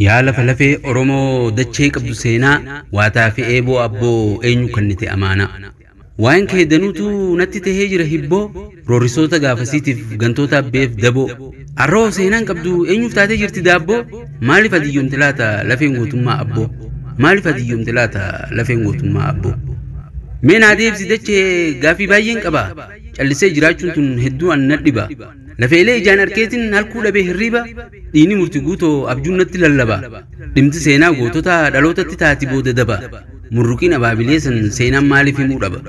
Yaa lafa lafee Oromoo dachee qabdu seenaa Waataa fi eeboo abboo eenyu kannite amaanaa Waa'een kee danuutu natti tahee jira hibboo Roorristoota gaafasiitiif gantoota abbeef daboo Arroo seenaan qabdu eenyuuf taatee jirti daabboo Maaliif adiyyoomte laata lafeen gootummaa abboo Maaliif adiyyoomte laata lafeen gootummaa abboo Mee naa deebisi dachee gaaffii baay'een qaba Callisee jiraachuun tun hedduu an nadhiba Lafeelee ijaan arkeetin halkuu dhabee hirriiba, dhiini murti guutoo abjuun natti lallaba. Dhimti seenaa goototaa dhalootatti taati booda daba. Murruqiin abaabilee san seenaan maaliif himuu dhaba?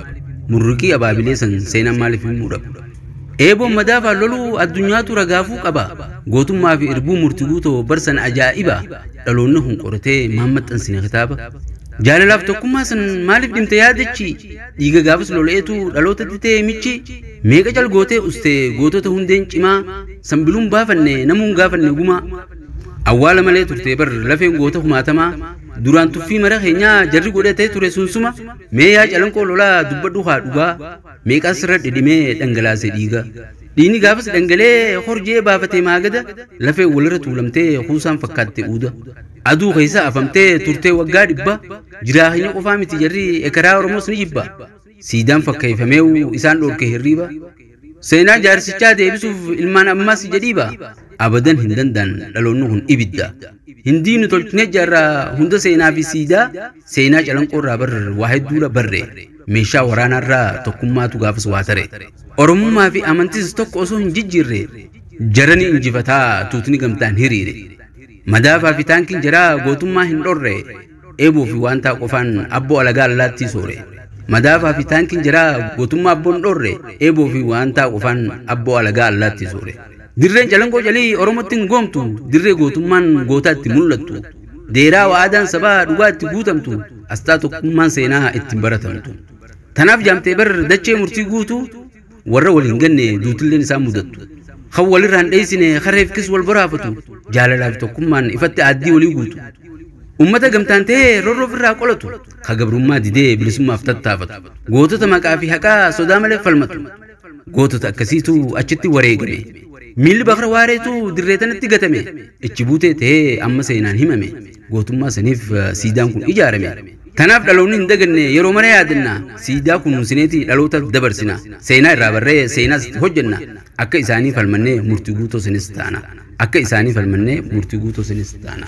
Murruqii abaabilee san seenaan maaliif himuu dhaba? Eeboon madaafaan loluu addunyaatu ragaafuu qaba. Gootummaa fi irbuu murti guutoo bar san ajaa'iba. Dhaloonni kun qoratee maan maxxansina kitaaba? Jaalalaaf tokkummaa san maaliif dhimta yaadachi? Dhiiga gaafas lola'eetu dhalootatti ta'e michi meeqa calgootee uste gootota hundeen cimaa sanbiluun baafanne namuun gaafanne gumaa awwaala malee turte bar lafeen goota kumaatamaa duraan tuffii mara keenyaa jarri godhatee ture sunsuma mee yaa calanqoo lolaa dubbadhu haa dhugaa meeqaa sirra dhidhimee dhangalaase dhiiga dhiini gaafas dhangalee horjee baafatee maagada lafeen walirra tuulamtee kuusaan fakkaatte uuda aduu keessa afamtee turtee waggaa dhibba Jiraa keenya qofaa miti jarri ekeraa Oromoos ni jibba. Siidaan fakkeeyfameewu isaan dhoorke hirriiba. Seenaa jaarsichaa deebisuuf ilmaan ammaas jedhiiba. Abadan hin danda'an dhaloonni kun ibidda. Hin diignu tolchinee jaarra hunda seenaa fi siidaa seenaa calanqoorraa bar waa hedduudha barre. Meeshaa waraanaarraa tokkummaatu gaafas waa tare. Oromummaa fi amantis tokko osoo hin jijjiirre jara ni injifataa tuutni gamtaan hiriire. Madaafaa fi taankiin jaraa gootummaa hin dhorre. dheebuu fi waantaa qofaan abboo alagaa allaattii soore. Madaafaa fi taankiin jaraa gootummaa abboon dhoorre dheebuu fi waantaa qofaan abboo alagaa allaattii soore. Dirreen calangoo calii Oromotti hin goomtu dirree gootummaan gootaa itti mul'attu. Deeraa wa'aadaan sabaa dhugaa itti guutamtu asxaa tokkummaan seenaa ittiin baratamtu. Tanaaf jaamtee bar dachee murtii guutuu. warra wal hin ganne duutilleen isaan mudattu kan walirraa hin dheessine kareefkis wal baraafatu jaalalaaf tokkummaan ifatti aaddii walii guutu ummata gamtaan ta'ee rorroo ofirraa qolatu ka gabrummaa didee bilisummaaf tattaafatu gootota maqaa fi haqaa sodaa malee falmatu gootota akkasiitu achitti wareegame miilli bakra waareetu dirree tanatti gatame ichi buutee ta'ee amma seenaan himame gootummaa saniif siidaan kun ijaarame. Kanaaf dhaloonni hin daganne yeroo mara yaadanna. Siidaa kunuunsineeti dhalootaaf dabarsina. Seenaa irraa barree seenaas itti hojjanna. Akka isaanii falmannee murtii guutoo sanis taana. Akka isaanii falmannee murtii guutoo sanis taana.